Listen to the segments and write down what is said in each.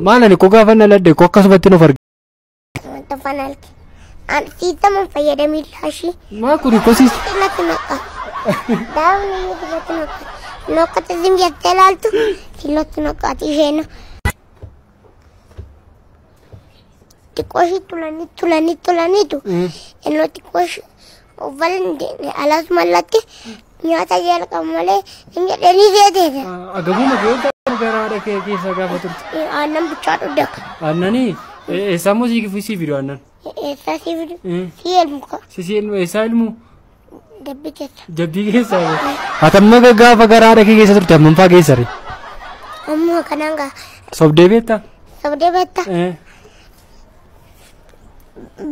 Maal ani koo gaafa na ladde koo akkasumatti nuuf arge. Wanta fanaalti. An siitamuun fayyadamii laashii. Maa kuni koo siis. Natti maqa. Daawun inni dibatti maqa. Nokkata zim jettee laaltu. Sinatti maqaati isheen. Xiqqoo ishii tulanii tulanii tulaniitu innoo xiqqoo ishii uffata hin deemne alas mallatti nyaata jalqabu malee hin jedhanii jeeteedha. Agabuma keessa gara haadha kee keessa gaafa turte. Aannan bichaa dhugda akka. Aannanii eessaa immoo siif siif fidu aannan. Eessaa sii fidu? Sii elmu kaa. Sisii ilmu eessaa ilmu? Jabbii keessa. Jabbii keessa. Hatamma gaafa garaa dhakee keessa turte hammam faa keessa ree? Ammoo kanaan gaa. Sobdee beektaa? Sobdee beektaa? Eh.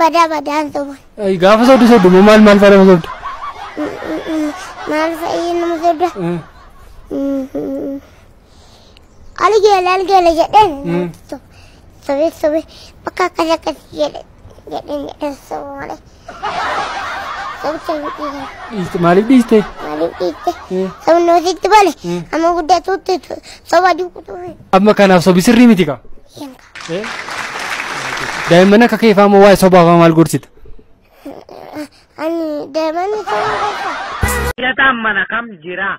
Badaa badaan soban. Ay, Gaafa sobdu sobdu moo maal maal faa nama sobdu? Maal fa'i nama sobda? Eh. Ani geela ani geela jedheen namatti sobe sobee sobee bakka akkas akkas jedhe jedheen jedheen sobe malee sobe sobe dhiise Dhiiste- Maaliif dhiiste? maaliif dhiiste Mm. sobe noositti bale Mm. amma guddaa tuutti soba duukutuu fi Amma kanaaf sobi sirrii miti kaa. yanka Daa'imman akka kee fa'aa immoo waa'ee sobaa fa'aa maal gorsita? ani daa'imman soba keessa. Filataan mana kam jira?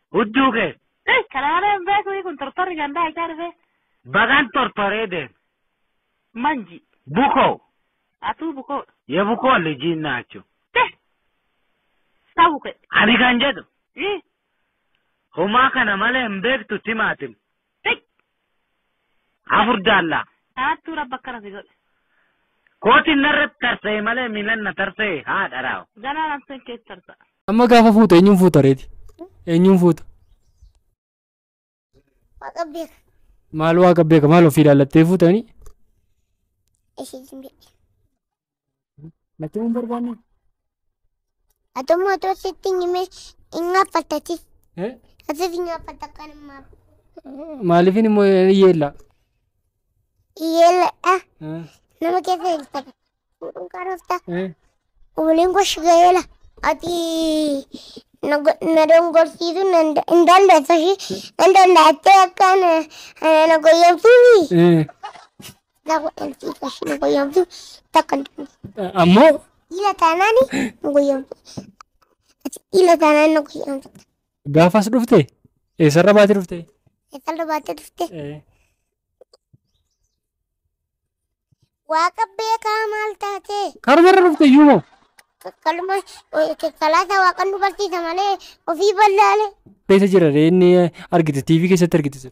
Hudduu kee. Hey, kana malee hin beeku kun tortorri gandaa ichaa dhufee. Bagaan tortoree deeme. Manji. Bukoo. Atuu bukoo. Ye bukoo lijiin naachu. Te. Sabu kee. Ani kan jedhu. Ii. Homaa kana malee hin beektu timaatim. Tik. Afur jaallaa. Dhaattuu rabbi akkana si godhe. Kootiin narratti tarsa'e malee miilan na tarsa'e haadha raawa. Ganaa nafseen keessa tarsa'a. Amma gaafa fuutu eenyuun fuuta reeti? Eenyuun fuuta? Waaqa beeka. Maal waaqa beeka maal ofii ilaallattee fuutanii? Ishee jimbiidhe. Natti hin barbaanne. Ati immoo otoo sitti hin himee hin gaaffattati. Eh? Asiif hin gaaffatta kan hin maafu. Maaliifin immoo yeella? Yeelladha. Eh? Nama keessa hin taphatu. Fuudhuun qaroofta. Eh? Waliin goshi gaheela. Ati na go- na dongorsiisuu nan da- hin dandeessu ishii. Nan danda'attee akkaan eh, na goyyomsuufi. Eh? Naa godhan si fashi nu goyyomsu takka hin dubbatu. Ammoo Dhiira taanaan nu goyyomsu. Ati dhiira taanaan nu goyyomsu. gaafas dhufte eessarra baate dhufte. Eessarra baate dhufte. Waaqa beekaa maal taate? Karumarra dhufte iyyuu moo Kaluma salaata waaqan nu barsiisa malee ofii ballaale. keessa jira inni argite TV keessatti argite sun.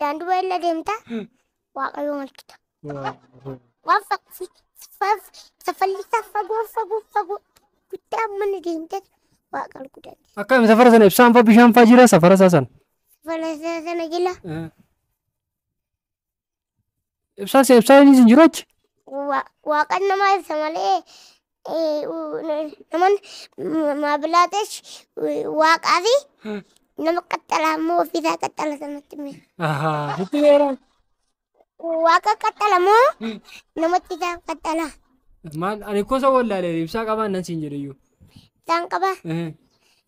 Daandii baay'ina deemta. Waaqayyoo malkita. Waan saffallisaa fagoo fagoo fagoo guddaa mana deemte waaqal guddaati. Akkam safara sana ibsaan faa bishaan faa jira safara isaa sana. Saffallisaa sana jila Ibsaa si ibsaa inni sin jiru achi. Wa- waaqan nama ibsa malee eh, u- n- naman m- maabilaatesh eh, waaqaa fi nama qaxxala ammoo ofiisaa qaxxala sanatti mira. Ahaa. Sitti beera. Waaqa qaxxala moo namatti isaa qaxxala Maal ani kosa wallaalee ibsaa qabaan nan siin jedhe iyyuu. isaan qaba. Eh.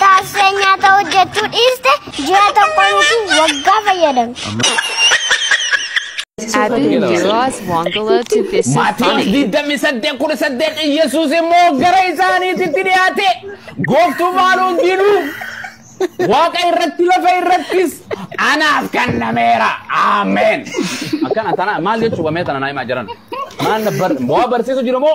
Taasisa nyaata hojjechuu dhiiste ji'a tokko miti waggaa fayyadamti. Abin Giroaz Wangala to this is Maatiyoos funny. digdamii saddeet kudha saddeet Iyyasuus immoo gara isaaniititti dhiyaate gooftummaan hundinuu waaqa irratti lafa irrattis anaaf kennameera. Ameen. Akkana tana maal jechuudha mee tana naa himaa jiran. Maal na bar waa barsiisu jiru moo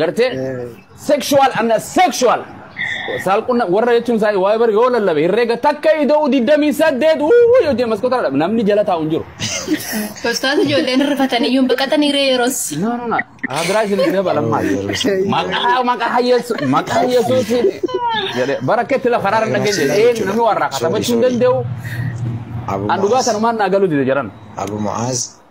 Gartee sexual amna sexual saalqunna warra jechuun isaa waa'ee bar yoo lallabe herreega takka ida'u digdamii saddeet uuu yoo jee maskoota dhabe namni jala taa'u hin jiru. Ustaas ijoolleen rifatanii iyyuu baqatanii ree yeroos. No no no hadiraa isin itti dabalan maal maqaa maqaa yesu maqaa yesuutiin jedhee bara akka itti lafa raara dhageen jedhe ee namni waan raakata bachuu hin danda'u an dhugaa sanumaan naa galuu dide jedhan. Abu Mu'aaz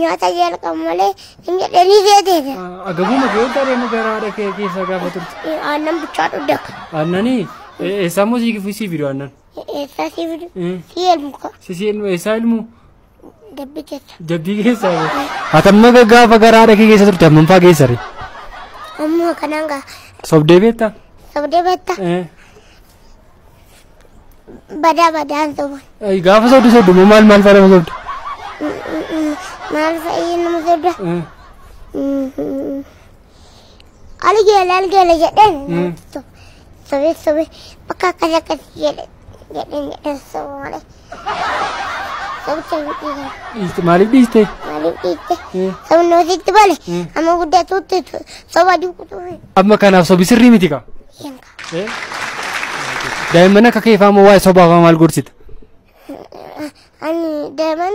nyaata jalqabu malee hin jedhanii geeteete. Agabuma kee daree magaraa haadha kee keessaa gaafa turte. Aannan bichaa dhudda akka. Aannanii eessaa immoo sii gifuu sii fidu aannan. Eessaa sii fidu? Sii elmuka. Sisii ilmu eessaa ilmu Dabbi keessa. jabbii keessaa. Hatamma gaafa gara haadha kee keessa turte hammam faa geessare? Amma kanaan gaa. Sobdee beektaa? Sabdee beektaa? Eh. Badaa badaan soba. Ay, Gaafa sobdu sobdu moo maal maal fa'aa nama sobdu? Maal fa'iin nama sobda? Algeela algeela jedheen. Sobe sobe bakka akkas akkas jedhe jedheen jedheen soba malee. Sobe sobe dhiisan. Dhiiste maaliif dhiiste? Maaliif dhiiste? Sabni hoositti bale amma guddaa tuutti soba duukutuufi. Amma kanaaf sobi sirrii miti kaa. Hin Daa'imman akka kee faamoo waa'ee sobaa faa maal gorsita? Ani daa'imman